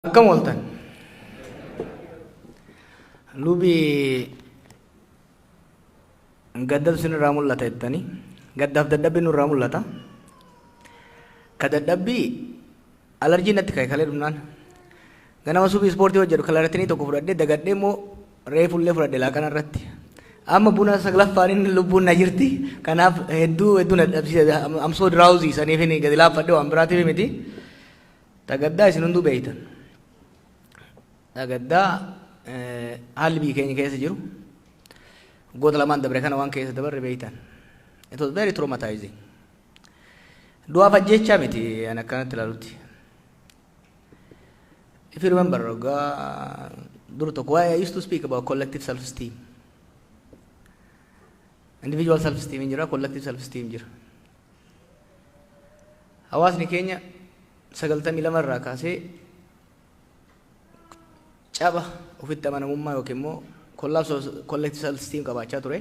Akkam ooltan? Lubi gaddatu sinirraa mul'ata jettanii gaddaaf dadhabbii nurraa mul'ata. Ka dadhabbii alarjii natti ka'e kalee dhumnaan. Ganama subii ispoortii hojjedhu kalaratinii tokko fudhadhee dagadhee immoo reefullee fudhadhe laaqana irratti. Amma buna saglaffaan inni lubbuun na jirti. Kanaaf hedduu hedduu na dadhabsiisa. Amsoo diraawuzii saniif gadi laaffadhe waan biraatiif miti. Dhagaddaa isin hunduu beektan. Dhagaddaa haalli biyyi keenya keessa jiru waggoota lamaan dabre kana waan keessa dabarre beektan. It was very traumatizing. Du'aaf ajjeechaa miti ani akkanatti ilaalutti. If you remember, waggaa dur tokko why I used to speak about collective self esteem. Individual self esteem hin jira, collective self esteem jira. Hawaasni keenya 92 irraa kaasee caba ofitti amanamummaa yookiin immoo collapse of collective self esteem qabaachaa ture.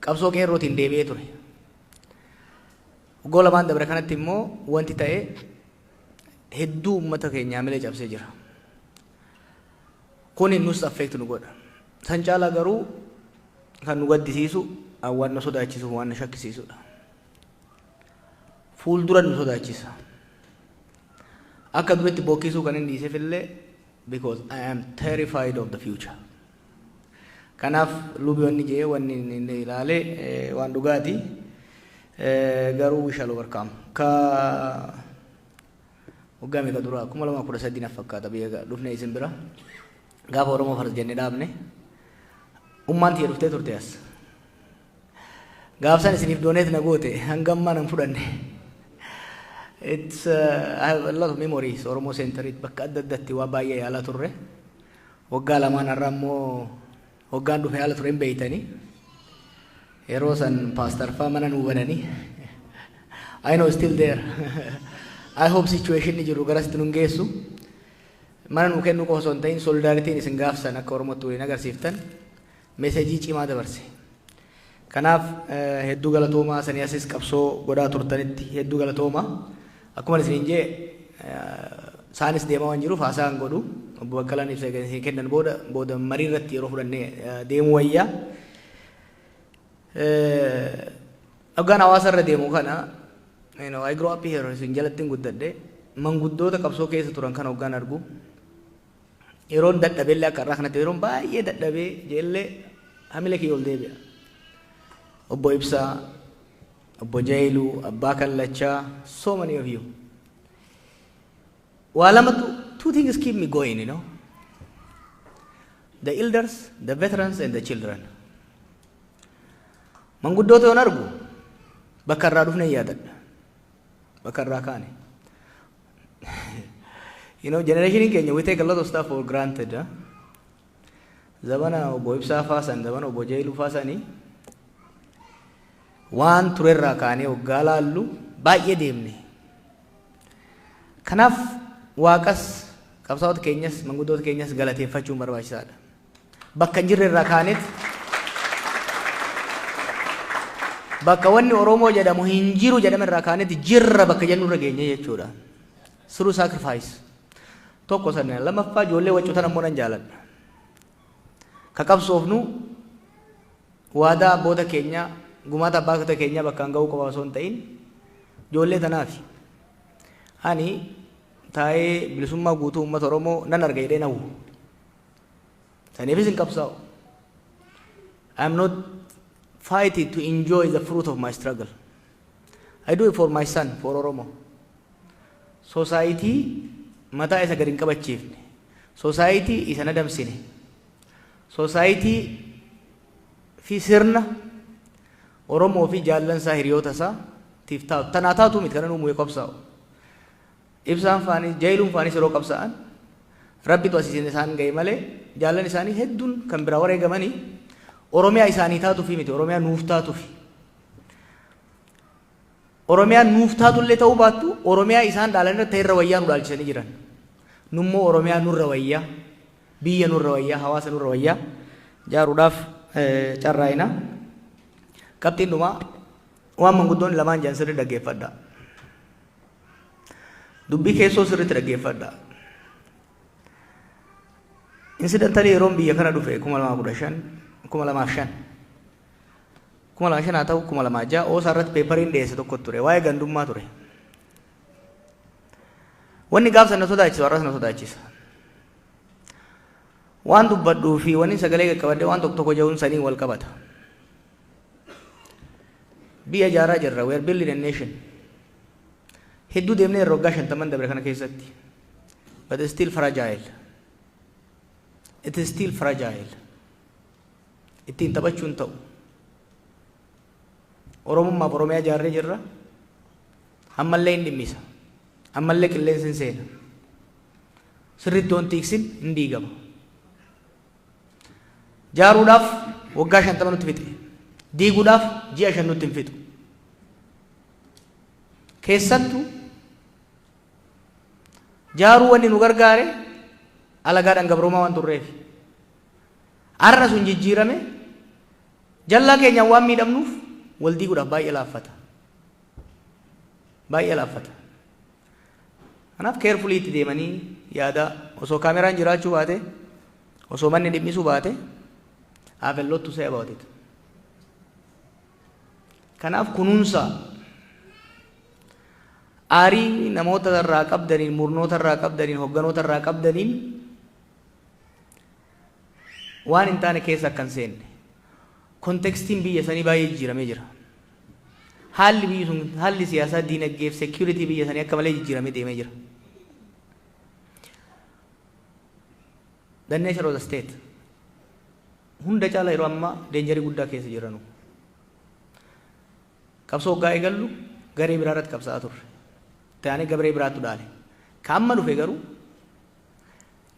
Qabsoo qeerrootiin deebi'ee ture. Waggaa lamaan dabre kanatti immoo wanti ta'e hedduu uummata keenyaa milee cabsee jira. Kuni nus affect nu godha. San caalaa garuu kan nu gaddisiisu an waan na sodaachisuuf waan na shakkisiisudha. Fuuldura nu sodaachisa. Akka duritti bookkisuu kan hin dhiiseef illee because I am terrified of the future. Kanaaf lubi wanni jee wanni inni ilaale eh, waan dhugaati. Eh, Garuu we shall overcome. Ka waggaa meeqa dura kuma lamaa kudha sadii naf fakkaata biyya ga- dhufne isin bira gaafa Oromoo Fars jenne dhaabne ummaan tiyya dhuftee turte as gaafsan isiniif dooneet na goote hanga ammaa nan fudhanne it's uh, I have a lot of memories Oromoo Centerit bakka adda addatti waa baay'ee yaalaa turre waggaa lamaan har'a immoo Hoggaan dhufe haala ture hin beeytanii. Yeroo san paastar faa mana nuu bananii. I know still there. I hope situation ni jiru garasitti nun geessu. Mana nuu kennuu qofa osoo hin ta'in solidaaritiin isin gaafsan akka Oromootti waliin agarsiiftan meesejii cimaa dabarse. Kanaaf hedduu galatoomaa sanii asis qabsoo godhaa turtanitti hedduu galatooma. Akkuman isiniin jee saanis deemaa waan jiruuf haasaa hin godhu. Obbo Baqqalaan ibsa egaa isin kennan booda booda marii irratti yeroo fudhannee deemuu wayya. Dhaggaan hawaasa irra deemu kana you know, I grow up here isin jalattin guddadhe manguddoota qabsoo keessa turan kan hoggaan argu yeroon dadhabellee akka irraa kanatti yeroon baay'ee dadhabee jeellee hamila kiyya ol deebi'a. Obbo Ibsaa, Obbo Jailuu, Abbaa Kallachaa, so many of you. Waa lamatu two things keep me going, you know. The elders, the veterans and the children. Manguddoota yoon argu bakka irraa dhufne yaadadha. Bakka irraa kaane. you know, generation keenya we take a lot of stuff for granted. Huh? Zabana obbo Ibsaa faasan, zabana obbo Jeeluu faasanii waan turerraa kaanee waggaa laallu baay'ee deemne. Kanaaf waaqas qabsaa'ota keenyas manguddoota keenyas galateeffachuun barbaachisaadha. Bakka hin jirre irraa kaaneet bakka wanni Oromoo jedhamu hin jiru jedhame irraa kaaneet jirra bakka jennu irra geenye jechuudha. Siruu saakrifaayis. Tokko sana lammaffaa ijoollee waccutan ammoo nan jaaladha. Ka qabsoofnu waadaa abboota keenyaa gumaata abbaakota keenyaa bakkaan ga'uu qofa osoo hin ta'in ijoollee tanaafi. Ani taa'ee bilisummaa guutuu uummata Oromoo nan arga jedhee nawwu. Saniifis hin qabsaa'u. I am not fighting to enjoy the fruit of my struggle. I do it for my son, for Oromo. Sosaayitii mataa isa gad hin qabachiifne. Sosaayitii isa nadamsine. Sosaayitii fi sirna Oromoo fi jaallansaa hiriyoota isaa tiif taatu. Tanaa taatu miti kanan uumuu qabsaa'u. Ibsaan faanis, Jayluun faanis yeroo qabsa'an Rabbitu asisin isaan gaye malee jaallan isaanii hedduun kan biraa wareegamani Oromiyaa isaanii taatufi miti Oromiyaa nuuf taatufi. Oromiyaan nuuf taatullee ta'uu baattu Oromiyaa isaan dhaalan irra ta'erra wayyaa nu dhaalchisanii jiran. Nummoo Oromiyaa nurra wayyaa, biyya nurra wayyaa, hawaasa nurra wayyaa jaaruudhaaf carraa'ina. Qabxiin dhumaa waan manguddoonni lamaan jedhan sirri dhaggeeffadha. Dubbii keessoo sirriitti dhaggeeffadha. Insidantalii yeroon biyya kana dhufe 2015 2005 2005 haa ta'u 2006 oosaa irratti peepariin dhiyeesse tokko ture waa'ee gandummaa ture. Wanni gaafsan na sodaachisu har'as na sodaachisa. Waan dubbadhuu fi wanni sagalee qaqqabadhee waan tokko tokko ja'uun saniin wal qabata. Biyya ijaaraa jirra. We are building a nation. Hedduu deemnee irra waggaa shantaman dabre kana keessatti. But it's still fragile. It is still fragile. Ittiin taphachuun ta'u. Oromummaaf Oromiyaa ijaarree jirra. Ammallee hin dhimmisa. Ammallee qilleensi hin seena. Sirriitti wanti tiksin hin diigama. Jaaruudhaaf waggaa 50 nutti fixe. Diiguudhaaf ji'a 5 nutti hin fixu. Keessattu jaaruu wanni nu gargaare alagaadhaan gabroomaa waan turreef. Har'a sun jijjiirame jallaa keenyaan waan miidhamnuuf wal diiguudhaaf baay'ee laaffata. Baay'ee laaffata. Kanaaf carefully itti deemanii yaadaa osoo kaameraan jiraachuu baate osoo manni dhimmisuu baate I have a lot to say about it. Kanaaf kunuunsa aarii namoota irraa qabdaniin murnoota irraa qabdaniin hogganoota irraa qabdaniin waan hin taane keessa akka hin seenne kontekstiin biyya sanii baay'ee jijjiiramee jira. Haalli biyyi sun haalli siyaasaa, diinagdee fi security biyya sanii akka malee jijjiiramee deemee jira. The nature of the state hunda caala yeroo ammaa deenjarii guddaa keessa jiranu. Qabsoo hoggaa eegallu garee biraa irratti qabsa'aa turre. Taanee gabree biraattu dhaale. Ka amma dhufe garuu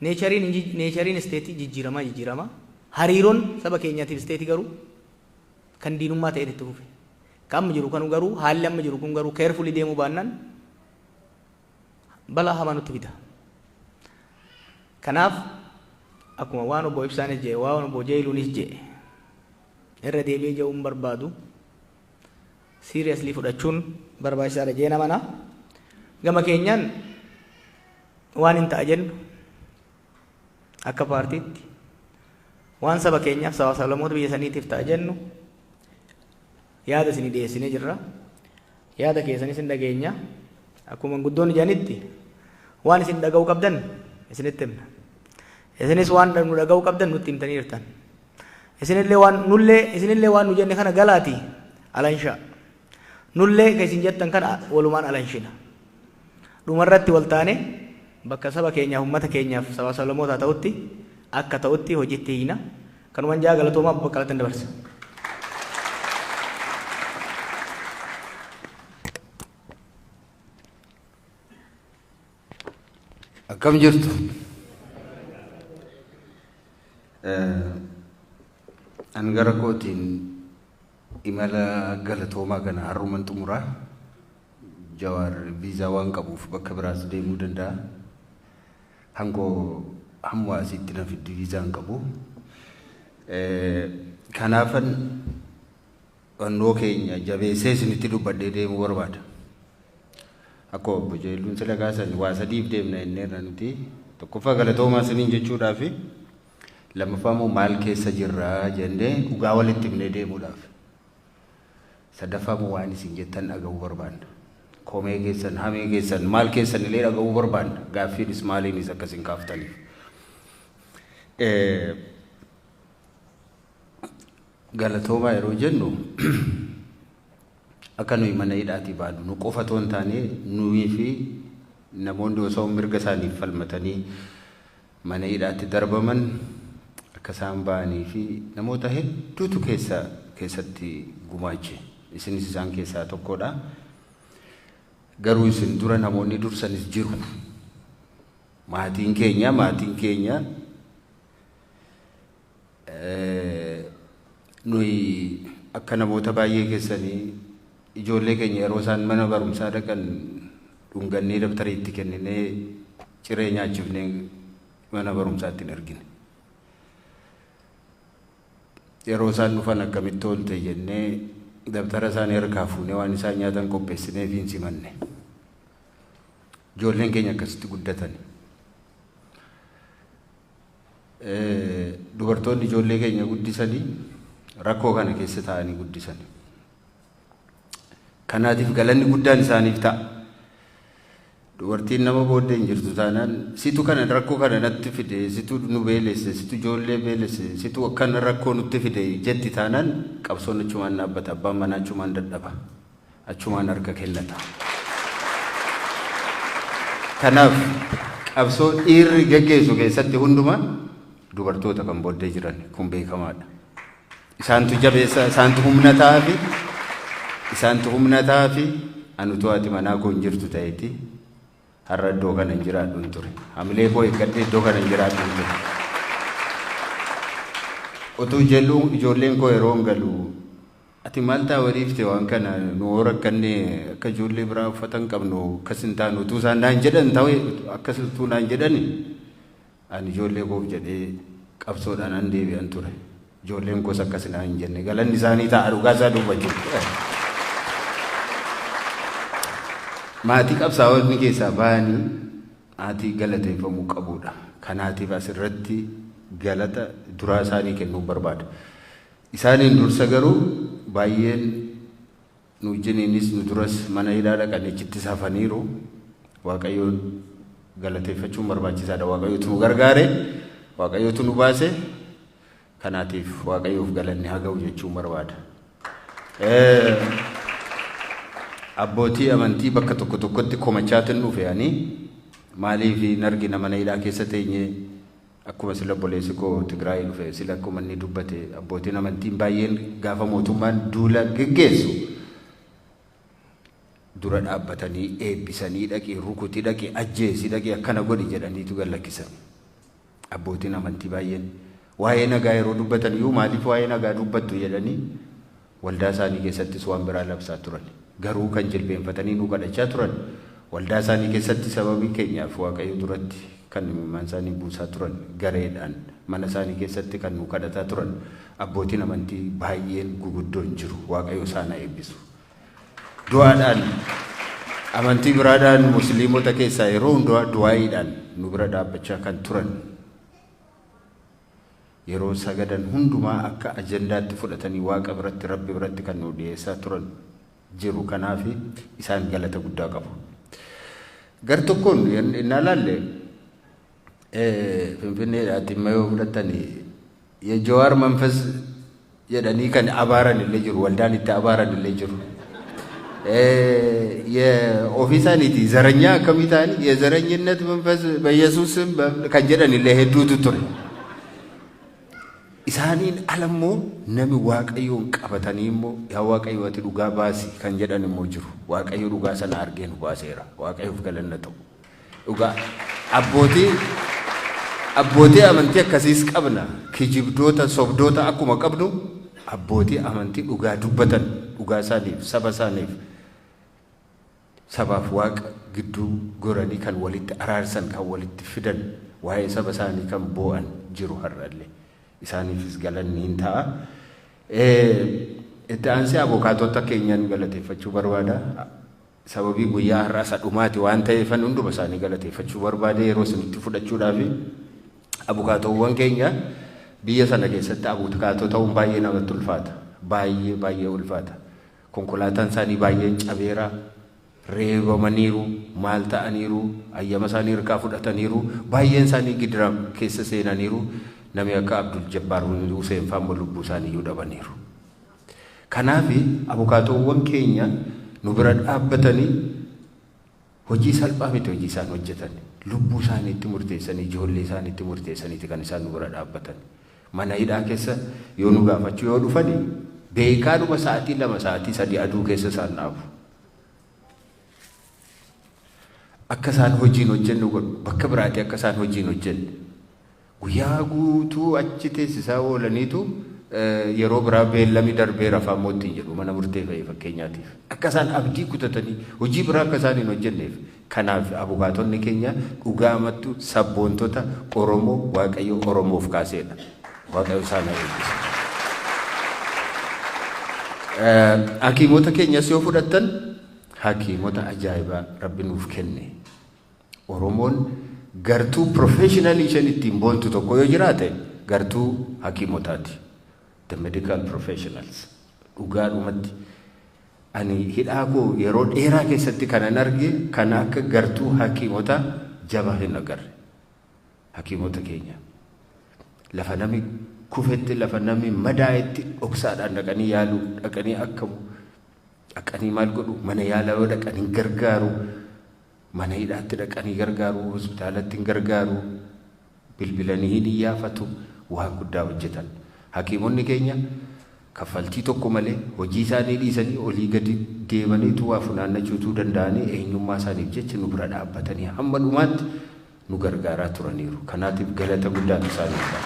neechariin neechariin isteetii jijjiiramaa jijjiiramaa hariiroon saba keenyaatiif isteetii garuu kan diinummaa ta'eet itti fufe. Ka amma jiru kanu garuu haalli amma jiru kun garuu carefully deemuu baannaan balaa hamaa nutti fida. Kanaaf akkuma waan obbo Ibsaanis jedhe waan obbo Jeeyiluunis jedhe irra deebi'ee jedhuun barbaadu seriously fudhachuun barbaachisaadha jee namana. Gama keenyaan waan hin ta'a jennu Akka paartiitti waan saba keenyaaf sabaa sablammoota biyya saniitiif ta'a jennu yaada isinii dhiyeessinee jirra. Yaada keessanis hin dhageenya. Akkuma guddoonni jedhanitti waan isin dhaga'uu qabdan isinitti himna. Isinis waan nu dhaga'uu qabdan nutti himtanii jirtan. Isinillee waan nullee isinillee waan nu jenne kana galaati alanshaa. Nullee ka isin jettan kana walumaan alanshina. Dhuma irratti wal taanee bakka saba keenyaaf ummata keenyaaf sabaa sablammootaa ta'utti akka ta'utti hojiitti hiina. Kanuman jaa galatoomaa Obbo Baqqalatti dabarsa. Akkam jirtu? An gara kootiin Imala galatoomaa kana har'uman xumura. Jawaar viizaa waan qabuuf bakka biraas deemuu danda'a. Hangoo hamma asiitti na fiddi viizaa hin qabu. Kanaafan hannoo keenya jabeessee isinitti dubbadhee deemuu barbaada. Akkuma obbo Jeelluun sila kaasan waa sadiif deemna jenneerra nuti. Tokkoffaa galatoomaa isiniin jechuudhaafi Lammaffaa immoo maal keessa jirra jennee dhugaa walitti himnee deemuudhaaf. Sadaffaa immoo waan isin jettan dhaga'uu barbaanna. Komee keessan, hamee keessan, maal keessan illee dhaga'uu barbaanna. Gaaffiinis maaliinis akka isin kaaftaniif. Galatoomaa yeroo jennu akka nuyi mana hidhaatii baanu nu qofa otoo hin taane nuyi fi namoonni osoo mirga isaaniif falmatanii mana hidhaatti darbaman, akka isaan ba'anii fi namoota hedduutu keessa keessatti gumaache. Isinis isaan keessaa tokkodha. Garuu isin dura namoonni dursanis jiru. Maatiin keenya, maatiin keenya Nuyi akka namoota baay'ee keessanii ijoollee keenya yeroo isaan mana barumsaa dhaqan dhungannee dabtarii itti kenninee ciree nyaachifnee mana barumsaatti hin ergine. Yeroo isaan dhufan akkamitti oolte jennee dabtara isaanii harkaa fuunee waan isaan nyaatan qopheessineef hin simanne. Ijoolleen keenya akkasitti guddatani. Dubartoonni ijoollee keenya guddisanii rakkoo kana keessa taa'anii guddisan. Kanaatiif galanni guddaan isaaniif ta'a. Dubartiin nama booddee hin jirtu taanaan situ kana rakkoo kana natti fide situ nu beelesse situ ijoollee beelesse situ akkana rakkoo nutti fide jetti taanaan qabsoon achumaan dhaabbata abbaan manaa achumaan dadhaba. achumaan harka kennata. Kanaaf qabsoo dhiirri geggeessu keessatti hundumaa dubartoota kan booddee jiran kun beekamaadha. Isaantu jabeessa, isaantu humna ta'aafi, isaantu humna ta'aafi anutu haati manaa koo hin jirtu ta'eeti har'a iddoo kana hin jiraadhu hin ture. Hamilee koo eeggadhee iddoo kana hin jiraadhu hin ture. Utuu jedhu ijoolleen koo yeroo hin galu Ati maal taa wariifte waan kana nu hoo rakkanne akka ijoollee biraa uffata hin qabnu akkas hin taanu utuu isaan naan jedhan ta'e akkas utuu naan jedhani ani ijoollee koof jedhee qabsoodhaan an deebi'an ture ijoolleen koos akkas naan hin jenne galanni isaanii ta'a dhugaa isaa dubbachuuf maatii qabsaa'onni keessaa ba'anii maatii galateeffamuu qabuudha kanaatiif asirratti galata duraa isaanii kennuun barbaada. Isaaniin dursa garuu baay'een nu wajjiniinis nu duras mana hidhaa dhaqanii achittis hafaniiru. Waaqayyoon galateeffachuun barbaachisaadha. Waaqayyootu nu gargaare, Waaqayyootu nu baase. Kanaatiif Waaqayyoof galanni haa ga'u jechuun barbaada. Abbootii amantii bakka tokko tokkotti komachaatin dhufe ani maaliif hin argina mana hidhaa keessa teenyee Akkuma sila obboleessi koo Tigraayii dhufe sila akkuma inni dubbate abbootiin amantiin baay'een gaafa mootummaan duula geggeessu dura dhaabbatanii eebbisanii dhaqi rukuti dhaqi ajjeesi dhaqi akkana godhi jedhaniitu gad lakkisan. Abbootiin amantii baay'een waa'ee nagaa yeroo dubbatan iyyuu maaliif waa'ee nagaa dubbattu jedhanii Waldaa isaanii keessattis waan biraa labsaa turan. Garuu kan jilbeenfatanii nuu kadhachaa turan waldaa isaanii keessatti sababii keenyaaf Waaqayyo duratti kan imimmaan isaanii buusaa turan gareedhaan mana isaanii keessatti kan nuu kadhataa turan abbootiin amantii baay'een guguddoon jiru Waaqayyo isaan haa eebbisu. Du'aadhaan amantii biraadhaan musliimota keessaa yeroo hundumaa du'aayiidhaan nu bira dhaabbachaa kan turan Yeroo sagadan hundumaa akka ajandaatti fudhatanii Waaqa biratti, Rabbi biratti kan nuu dhiyeessaa turan jiru. Kanaaf isaan galata guddaa qabu. Gar tokkoon innaa laalle Finfinneedhaa Ximmayoo fudhattanii Jawaar Manfas jedhanii kan abaaran illee jiru waldaan itti abaaran illee jiru ofii isaaniiti zaranyaa akkamii ta'an yezaranyinnat manfas bayesuusn kan jedhan illee hedduutu ture isaaniin ala immoo nami waaqayyoon qabatanii immoo yaa waaqayyo ati dhugaa baasi kan jedhan immoo jiru waaqayyo dhugaa sana argee nu baaseera waaqayyoof galanna ta'u Dhugaa. Abbootii Abbootii amantii akkasiis qabna. Kijibdoota, sobdoota akkuma qabnu abbootii amantii dhugaa dubbatan dhugaa isaaniif, saba isaaniif, sabaaf waaqa gidduu goranii kan walitti araarsan, kan walitti fidan, waa'ee saba isaanii kan boo'an jiru har'allee. Isaaniifis galanni hin ta'a. Itti aansee abokaatota keenyaan galateeffachuu barbaada. Sababii guyyaa har'aa isa dhumaati waan ta'eefan hunduma isaanii galateeffachuu barbaade yeroo isinitti fudhachuudhaafi. Abukaatoowwan keenya biyya sana keessatti abukaatoo ta'uun baay'ee namatti ulfaata. Baay'ee baay'ee ulfaata. Konkolaataan isaanii baay'een cabeera, reebamaniiru, maal ta'aniiru, ayyama isaanii hirkaa fudhataniiru, baay'een isaanii gidira keessa seenaniiru, nami akka Abdul Jabbaar Huseen fa'aa immoo lubbuu isaaniiyyuu dhabaniiru. Kanaafi abukaatoowwan keenya nu bira dhaabbatanii hojii salphaa miti hojii isaan hojjetan. Lubbuu isaaniitti murteessanii, ijoollee isaaniitti murteessaniiti kan isaan nu bira dhaabbatan. Mana hidhaa keessa yoo nu gaafachuu yoo dhufani beekaadhuma sa'atii lama sa'atii sadii aduu keessa isaan dhaabu. Akka isaan hojiin hojjennu godhu. Bakka biraatii akka isaan hojiin hojjenne. Guyyaa guutuu achi teessisaa oolaniitu yeroo biraa beellami darbeera fa'aa immoo ittiin jedhu mana murtee fa'i fakkeenyaatiif. Akka isaan abdii kutatanii hojii biraa akka isaan hin hojjenneef. Kanaaf abukaatonni keenya dhugaamattu sabboontota Oromoo Waaqayyo Oromoof kaaseedha. Waaqayyo isaan haa eebbisu. Hakiimota keenyas yoo fudhattan hakiimota ajaa'ibaa Rabbi nuuf kenne. Oromoon gartuu professionally isheen ittiin boontu tokko yoo jiraate gartuu hakiimotaati. The medical professionals. Dhugaadhumatti ani hidhaa koo yeroo dheeraa keessatti kanan arge kana akka gartuu hakiimota jabaa hin agarre. Hakiimota keenya lafa nami kufetti lafa nami madaa'etti dhoksaadhaan dhaqanii yaalu dhaqanii akkamu dhaqanii maal godhu mana yaalaa yoo dhaqan hin gargaaru Mana hidhaatti dhaqanii gargaaruu, hospitaalatti hin gargaaru, bilbilanii hin iyyaafatu, waan guddaa hojjetan. Hakiimonni keenya kaffaltii tokko malee hojii isaanii dhiisanii olii gadi deemanii utuu waa funaannachuu utuu danda'anii eenyummaa isaaniif jecha nu bira dhaabbatanii hamma dhumaatti nu gargaaraa turaniiru. Kanaatiif galata guddaatu isaaniif ta'a.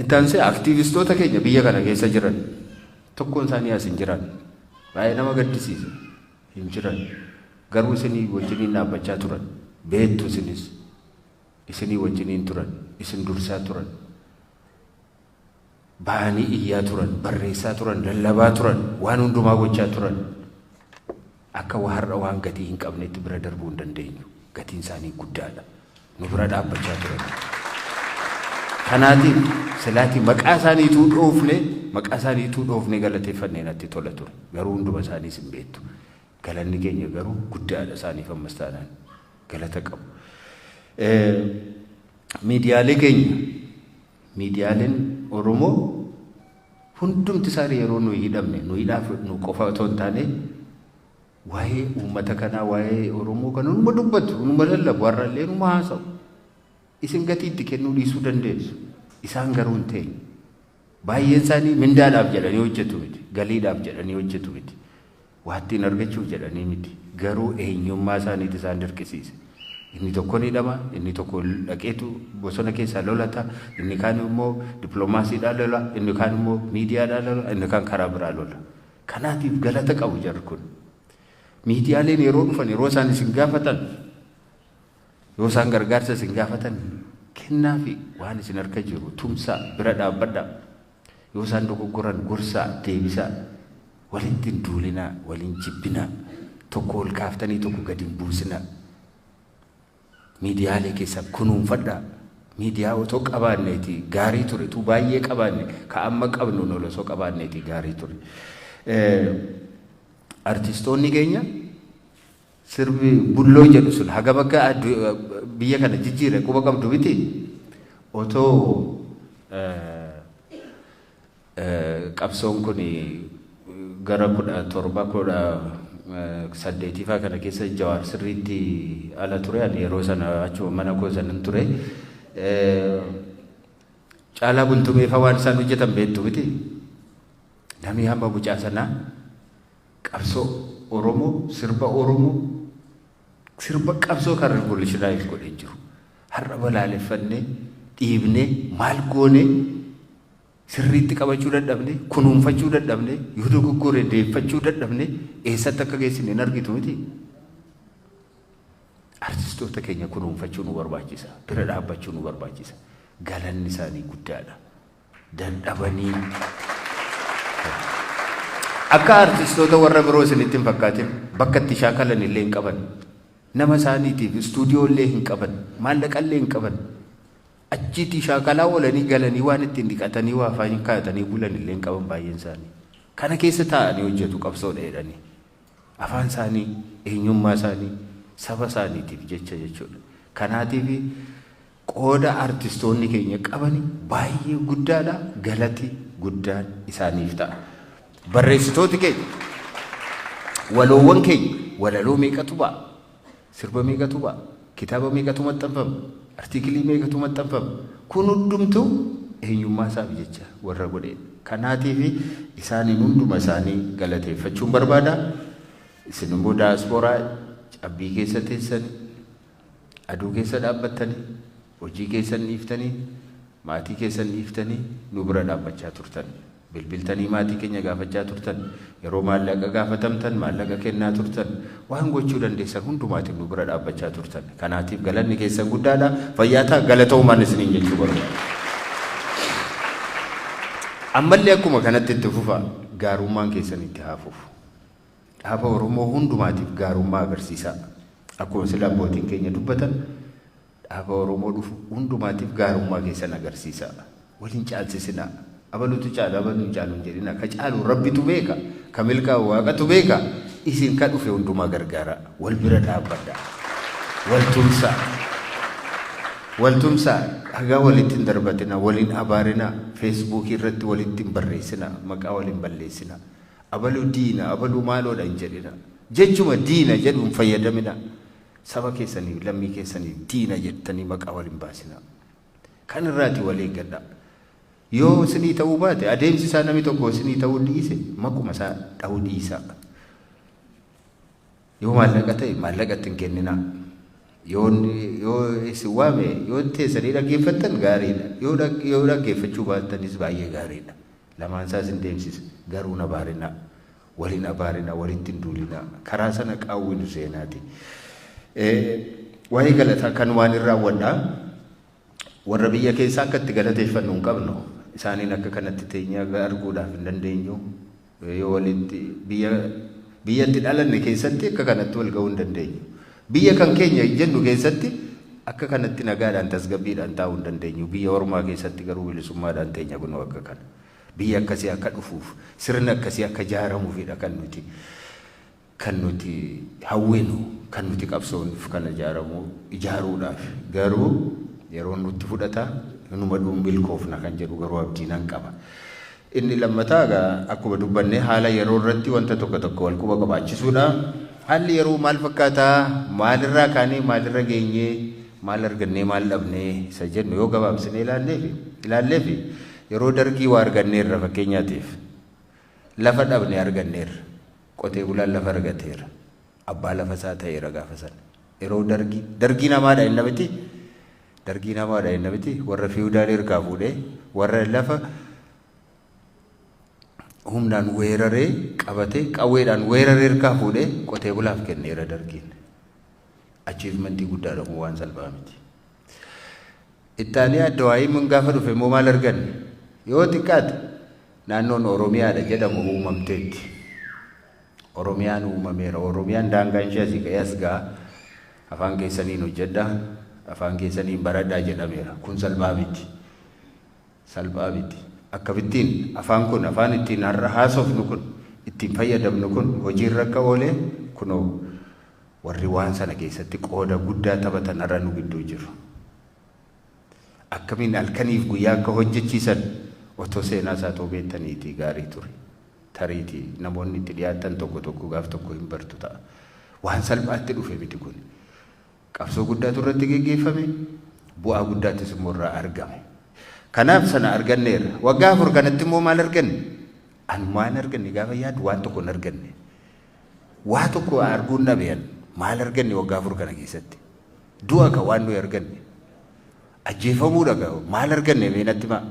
Itti aansee aktiivistoota keenya biyya kana keessa jiran Tokkoon isaanii as hin jiran. Baay'ee nama gaddisiisa. Hin jiran. Garuu isinii wajjiniin dhaabbachaa turan. Beektu isinis. Isinii wajjiniin turan. Isin dursaa turan. Ba'anii iyyaa turan. Barreessaa turan. Lallabaa turan. Waan hundumaa gochaa turan. Akka wa har'a waan gatii hin qabnetti bira darbuu hin dandeenyu. Gatiin isaanii guddaadha. Nu bira dhaabbachaa turan. Kanaatiif silaatii maqaa isaanii ituu dhoofne maqaa isaanii ituu dhoofne galateeffannee natti tola ture. Garuu hunduma isaaniis hin beektu. Galanni keenya garuu guddaadha isaaniif ammas taanaan galata qabu. Miidiyaalee keenya miidiyaaleen Oromoo Hundumti isaani yeroo nuyi hidhamne, nu hidhaa fudhnu qofa otoo hin taane, waa'ee uummata kanaa, waa'ee Oromoo kana numa dubbatu, numa lallabu, har'a illee numa haasa'u. Isin gatii itti kennuu dhiisuu dandeessu. Isaan garuu hin teenye. Baay'een isaanii mindaadhaaf jedhanii hojjetu miti, galiidhaaf jedhanii hojjetu miti. Waa ittiin argachuuf jedhanii miti. Garuu eenyummaa isaaniitu isaan dirqisiise. Inni tokko ni dhama, inni tokko dhaqeetu bosona keessaa lolata, inni kaan immoo dippiloomaasiidhaan lola, inni kaan immoo miidiyaadhaan lola, inni kaan karaa biraa lola. Kanaatiif galata qabu jarri kun. Miidiyaaleen yeroo dhufan yeroo isaan isin gaafatan yoo isaan gargaarsa isin gaafatan kennaafi waan isin harka jiru tumsaa bira dhaabbadhaa. Yoo isaan dogoggoran gorsaa, deebisaa. Walitti hin duulinaa, wal hin jibbinaa. Tokko ol kaaftanii tokko gadi hin buusinaa. Miidiyaalee keessan kunuunfadhaa. Miidiyaa otoo qabaanneeti gaarii ture. Tuu baay'ee qabaanne ka amma qabnuun ol osoo qabaanneeti gaarii ture. Artistoonni keenya Sirbi bulloo jedhu sun hagam akka addu- biyya kana jijjiire quba qabdu miti. Otoo eh, eh, qabsoon kun gara kudha torba kudha eh, saddeetiifaa kana keessa jawaar sirriitti ala ture ani yeroo sana achuma mana koo sanan ture. Eh, Caalaa bultumeefa waan isaan hojjetan beektu miti. Namni hamma mucaa sanaa Qabsoo Oromoo, sirba Oromoo, sirba qabsoo kan revolutionise godhe jiru. Har'a balaaleffannee, dhiibnee, maal goonee sirriitti qabachuu dadhabnee, kunuunfachuu dadhabnee, yoo dogoggore deeffachuu dadhabnee eessatti akka geessine hin argitu miti. Artistoota keenya kunuunfachuu nu barbaachisa. Bira dhaabbachuu nu barbaachisa. Galanni isaanii guddaadha. dandhabanii akka artistoota warra biroo isinitti hin fakkaatin bakka itti shaakalan illee hin qaban nama isaaniitiif istuudiyoo illee hin qaban maallaqa illee hin qaban achiitii shaakalaa oolanii galanii waan ittiin dhiqatanii waa faa hin kaa'atanii bulan illee hin qaban baay'een isaanii kana keessa taa'anii hojjetu qabsoo dheedhanii afaan isaanii eenyummaa isaanii saba isaaniitiif jecha jechuudha kanaatiif Qooda artistoonni keenya qabani baay'ee guddaadha galati guddaan isaaniif ta'a. Barreessitooti keenya waloowwan keenya walaloo meeqatu ba'a? Sirba meeqatu ba'a? Kitaaba meeqatu maxxanfama? Artiikilii meeqatu maxxanfama? Kun hundumtuu eenyummaa isaaf jecha warra godheedha. Kanaatiif isaaniin hunduma isaanii galateeffachuun barbaada. Isin immoo daaspooraa cabbii keessa teessani Aduu keessa dhaabbattani, hojii keessan dhiiftanii, maatii keessan dhiiftanii nu bira dhaabbachaa turtan. Bilbiltanii maatii keenya gaafachaa turtan. Yeroo maallaqa gaafatamtan maallaqa kennaa turtan. Waan gochuu dandeessan hundumaatiin nu bira dhaabbachaa turtan. Kanaatiif galanni keessan guddaadha. Fayyaa ta'a galatoomaan isiniin jechuu barbaada. Ammallee akkuma kanatti itti fufaa. Gaarummaan keessan itti haa fufu. dhaaba Oromoo hundumaatiif gaarummaa agarsiisaa. Akkuma sila abbootiin keenya dubbatan dhaaba Oromoo dhufu hundumaatiif gaarummaa keessan agarsiisaa. Wal hin caalsisinaa. Abalutu caala abalu hin caalu hin jedhinaa. Ka caalu Rabbitu beeka. Ka milkaa'u Waaqatu beeka. Isin ka dhufe hundumaa gargaaraa. Wal bira dhaabbadhaa. Wal tumsaa. Wal tumsaa. Dhagaa walitti hin darbatinaa. Wal hin abaarinaa. Feesbuukii irratti walitti hin barreessinaa. Maqaa wal hin balleessinaa. Abalu diina, abalu maaloodha hin jedhina. Jechuma diina jedhu hin fayyadamina. Saba keessaniif, lammii keessaniif diina jettanii maqaa wal hin baasinaa. Kan irraati wal eeggadhaa. Yoo isinii ta'uu baate adeemsi isaa nami tokko isinii ta'uu dhiise maquma isaa dhahuu dhiisaa. Yoo maallaqa ta'e maallaqa itti hin kenninaa. Yoo yoo isin waame yoo teessanii dhaggeeffattan gaariidha. Yoo dhag- yoo dhaggeeffachuu baattanis baay'ee gaariidha. Lamaan isaa isin deemsisa. Garuu hin abaarinaa. Wal hin abaarinaa, walitti hin duulinaa. Karaa sana qaawwi nu seenaati. Eh, Waa'ee galataa kanumaan hin raawwadhaa. Warra biyya keessaa akka itti galateeffannu hin qabnu. Isaaniin akka kanatti teenyee arguudhaaf hin dandeenyu. Yoo walitti biyya biyya itti dhalanne keessatti akka kanatti wal ga'uu hin dandeenyu. Biyya kan keenya jennu keessatti akka kanatti nagaadhaan tasgabbiidhaan taa'uu hin dandeenyu. Biyya ormaa keessatti garuu bilisummaadhaan teenya kunoo akka kana. Biyya akkasii akka dhufuuf sirni akkasii akka jaaramuufidha kan nuti Kan nuti hawwinu, kan nuti qabsoofnuf kan ijaaramu ijaaruudhaaf. Garuu yeroon nutti fudhata, hinuma dhuu milkoofna kan jedhu garuu abdii nan qaba. Inni lammataa egaa akkuma dubbanne haala yeroo irratti wanta tokko tokko wal quba qabaachisuudha. Haalli yeroo maal fakkaata, maalirraa kaanee maalirra geenye, maal argannee maal dhabne isa jennu yoo gabaabsinee ilaalleefi ilaalleefi yeroo Dargii waa arganneerra fakkeenyaatiif lafa dhabne arganneerra. Qotee bulaan lafa argateera. Abbaa lafa isaa ta'eera gaafa sana. Yeroo dargii, dargiin hamaadha jenna miti? Dargiin hamaadha jenna miti? Warra fiiwudaalii harkaa fuudhee, warra lafa humnaan weeraree qabatee qawweedhaan weeraree harkaa fuudhee qotee bulaaf kenneera dargiin. Achiivmentii guddaadha kun waan salphaa miti. Ittaaliyaa Dawaayiman gaafa dhufe immoo maal arganne? Yoo xiqqaate naannoon Oromiyaadha jedhamu uumamteetti. Oromiyaan uumameera. Oromiyaan daangaan ishee asii ka'ee as ga'a. Afaan keessaniin hojjedha. Afaan keessaniin baradhaa jedhameera. Kun salphaa miti. Salphaa miti. Akkamittiin afaan kun afaan ittiin har'a haasofnu kun ittiin fayyadamnu kun hojiirra akka oole kunoo Warri waan sana keessatti qooda guddaa taphatan har'a nu gidduu jiru. Akkamiin halkaniif guyyaa akka hojjechiisan otoo seenaa isaa otoo beektaniitii gaarii ture. Tariitii namoonni itti dhiyaattan tokko tokko gaaf tokko hin bartu ta'a. Waan salphaatti dhufe miti kun. Qabsoo guddaatu irratti geggeeffame, bu'aa guddaattis immoo irraa argame. Kanaaf sana arganneerra. Waggaa afur kanatti immoo maal arganne? Ani waan arganne gaafa yaadu waan tokko hin arganne. Waa tokko arguun dhabe an. Maal arganne waggaa afur kana keessatti? Du'a ka waan nuyi arganne. Ajjeefamuudha ka maal arganne mee natti himaa.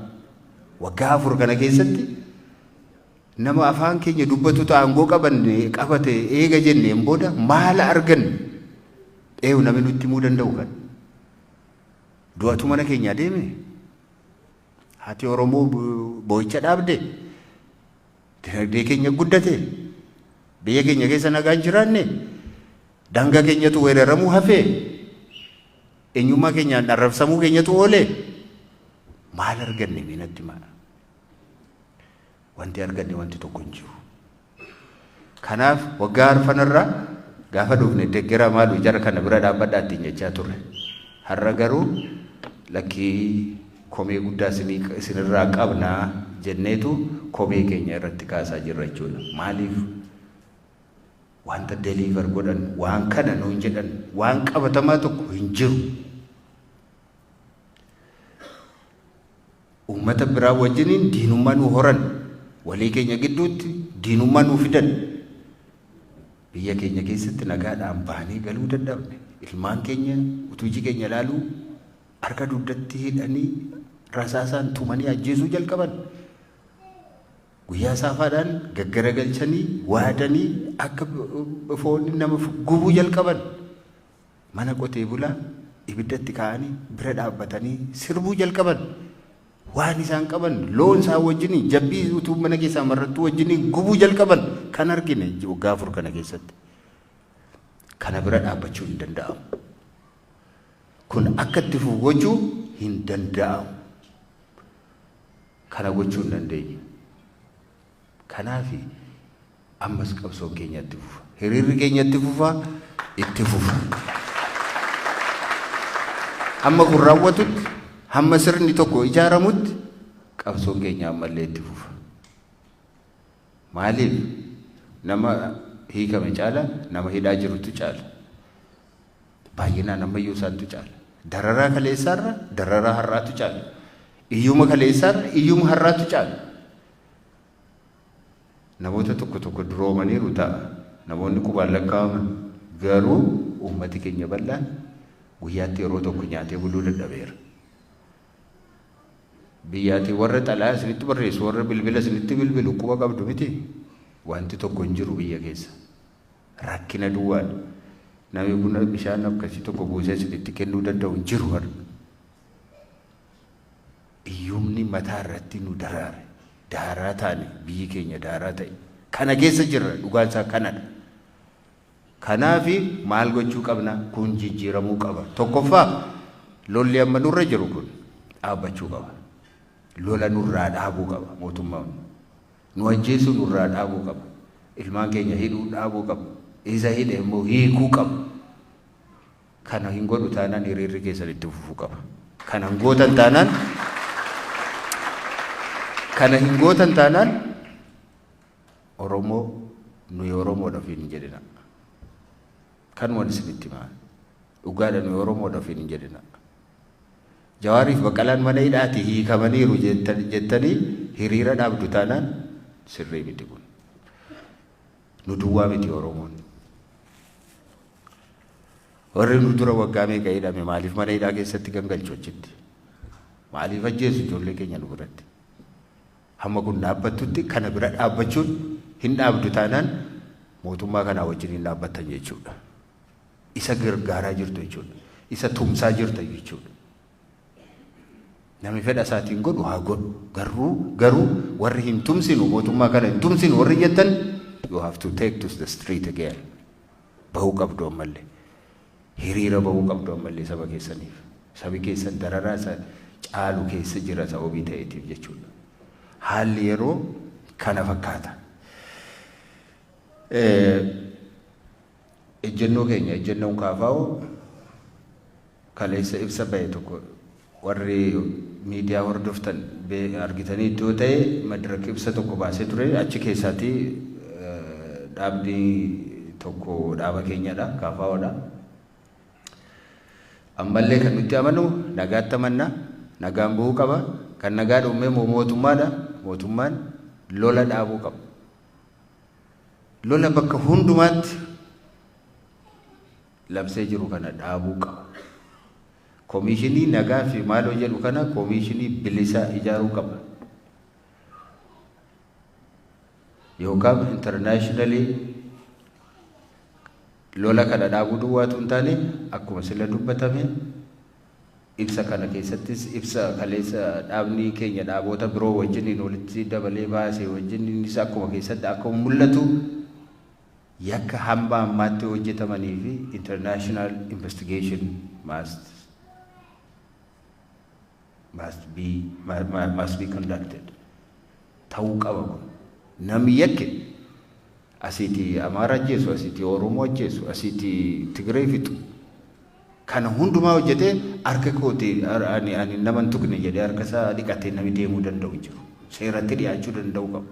Waggaa afur kana keessatti nama afaan keenya dubbatu aangoo qabanne qabate eega jenneen booda maal arganne? Eeyu namni nutti himuu danda'u kan. Du'atu mana keenya adeeme. Haati Oromoo boo'icha dhaabde. Dinagdee keenya guddate, biyya keenya keessa nagaan jiraanne, daangaa keenyatu weeraramuu hafee, eenyummaa keenyaan arrabsamuu keenyatu oole. Maal arganne mee natti himaa? Wanti arganne wanti tokko hin jiru. Kanaaf waggaa arfanarraa gaafa dhufne deggera maalu jara kana bira dhaabbadhaa ittiin jechaa turre. Har'a garuu lakkii komee guddaa isin irraa qabna jenneetu komee keenya irratti kaasaa jirra jechuudha. Maaliif wanta deliver godhan waan kana nuun jedhan waan qabatamaa tokko hin jiru. Uummata biraa wajjiniin diinummaa nu horan walii keenya gidduutti diinummaa nu fidan biyya keenya keessatti nagaadhaan baanee galuu dadhabne ilmaan keenya utuu iji keenya ilaaluu Harka dugdatti hidhanii rasaasaan tumanii ajjeesuu jalqaban. Guyyaa saafaadhaan gaggaragalchanii, waadanii akka foon nama gubuu jalqaban. Mana qotee bulaa ibiddatti kaa'anii bira dhaabbatanii sirbuu jalqaban. Waan isaan qaban loon isaan wajjiniin jabbii utuu mana keessaa marrattuu wajjiniin gubuu jalqaban kan argine waggaa afur kana keessatti. Kana bira dhaabbachuu hin danda'amu. Kun akka itti fufu gochuu hin danda'amu. Kana gochuu hin dandeenyu. Kanaafi ammas qabsoon keenya itti fufa. Hiriirri keenya itti fufa, itti fufa. Hamma kun raawwatutti, hamma sirni tokko ijaaramutti qabsoon keenya ammallee itti fufa. Maaliif? Nama hiikame caala nama hidhaa jirutu caala. Baay'inaan ammayyuu isaantu caala. Dararaa kaleessaarra dararaa har'aatu caala. Iyyuma kaleessaarra iyyuma har'aatu caala. Namoota tokko tokko duroomaniiru ta'a. Namoonni qubaan lakkaa'aman garuu uummati keenya bal'aan guyyaatti yeroo tokko nyaatee buluu dadhabeera. Biyyaati warra xalaya isinitti barreessu warra bilbila isinitti bilbilu quba qabdu miti? Wanti tokko hin jiru biyya keessa. Rakkina duwwaadha. Namni buna bishaan akkasii tokko buusee isinitti kennuu danda'u hin jiru har'a. Iyyumni mataa irratti nu daraare. Daaraa taane biyyi keenya daaraa ta'e. Kana keessa jirra dhugaan isaa kanadha. Kanaaf maal gochuu qabna? Kun jijjiiramuu qaba. Tokkoffaa lolli amma nurra jiru kun dhaabbachuu qaba. Lola nurraa dhaabuu qaba mootummaan. Nu ajjeesuu nurraa dhaabuu qaba. Ilmaan keenya hidhuu dhaabuu qaba. Isa hidhe immoo hiikuu qaba. Kana hin godhu taanaan hiriirri keessan itti fufuu qaba. Kana hin gootan taanaan kana hin gootan taanaan Oromoo nuyi Oromoodha ofiin hin jedhina. Kanuman isinitti himaa. Dhugaadha nuyi Oromoodha ofiin hin jedhina. Jawaariif Baqqalaan mana hidhaati hiikamaniiru jettanii hiriira dhaabdu taanaan sirrii miti kun. Nu duwwaa miti Oromoon. Warri nu dura waggaa meeqa hidhame maaliif mana hidhaa keessatti gangalchu achitti? Maaliif ajjeesu ijoollee keenya nu biratti? Hamma kun dhaabbattutti kana bira dhaabbachuun hin dhaabdu taanaan mootummaa kanaa wajjin hin dhaabbattan jechuudha. Isa gargaaraa jirtu jechuudha. Isa tumsaa jirta jechuudha. Nami fedha isaatiin godhu haa godhu. Garuu garuu warri hin tumsinu mootummaa kana hin tumsinu warri jettan you have to take to the street again. Bahuu qabdu ammallee. Hiriira bahuu qabdu ammallee saba keessaniif. Sabi keessan dararaa isa caalu keessa jira sababii ta'eetiif jechuudha. Haalli yeroo kana fakkaata. Ejjennoo keenya ejjennoon kaafaa'u kaleessa ibsa bahe tokko Warri miidiyaa hordoftan argitaniittu yoo ta'e Madrak ibsa tokko baasee ture. Achi keessaati dhaabni tokko dhaaba keenyadha, KFOdha. Ammallee kan nutti amanu nagaatti amanna, nagaan bu'uu qaba. Kan nagaa dhowwee immoo mootummaadha. Mootummaan lola dhaabuu qaba. Lola bakka hundumaatti labsee jiru kana dhaabuu qaba. Komiishinii nagaa fi maaloo jedhu kana komiishinii bilisaa ijaaruu qabna. Yookaan internationally lola kana dhaabuu duwwaatu hin taane akkuma sila dubbatame ibsa kana keessattis ibsa kaleessa dhaabni keenya dhaaboota biroo wajjiniin walitti dabalee baase wajjiniinis akkuma keessatti akkuma mul'atu Yakka hamba ammaatti hojjetamanii fi international investigation must must be must be conducted ta'uu qaba kun namni yakke asiiti amaara ajjeesu asiiti oromoo ajjeesu asiiti tigiree fixu Kana hundumaa hojjetee harka kooti ani ani nama hin tuqne jedhee harka isaa dhiqatee nami deemuu danda'u hin jiru. Seeratti dhiyaachuu danda'uu qaba.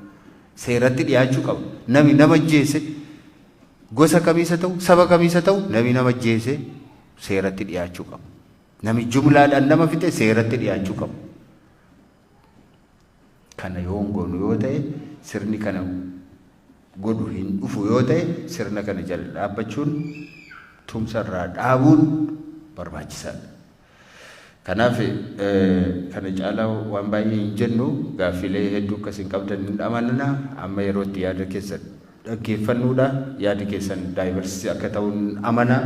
Seeratti dhiyaachuu qaba. Nami nama ajjeese gosa kamiisa ta'u saba kamiisa ta'u nami nama ajjeese seeratti dhiyaachuu qaba. Nami jumlaadhaan nama fixe seeratti dhiyaachuu qaba. Kana yoo hin goonu yoo ta'e, sirni kana godhu hin dhufu yoo ta'e, sirna kana jala dhaabbachuun tumsa irraa dhaabuun barbaachisaa dha. Kanaaf kana caalaa waan baay'ee hin jennu, gaaffiilee hedduu akka isin qabdan hin amanna, amma yeroo itti yaada keessan dhaggeeffannuu dha, yaadi keessan diversity akka ta'u hin amana,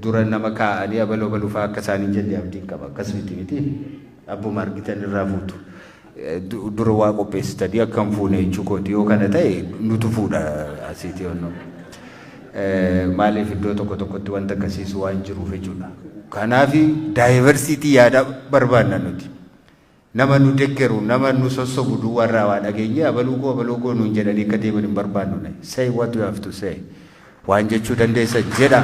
dura nama kaa'anii abalu abalu fa'aa akka isaan hin jenne abdiin qaba. Akkas miti miti abbuma argitan irraa fuutu. Dura waa qopheessitanii akka hin fuune jechuu kooti yoo kana ta'e nutu fuudha asiiti onnoo. Maaliif iddoo tokko tokkotti wanta akkasiisu waan jiruuf jechuudha. Kanaaf daayivarsiitii yaadaa barbaanna nuti. Nama nu deggeru, nama nu sossobu duwwaa irraa waa dhageenyee abaluu koo abaloo koo nuun jedhanii akka deeman hin barbaannu. Say what you have to say. Waan jechuu dandeessan jedhaa.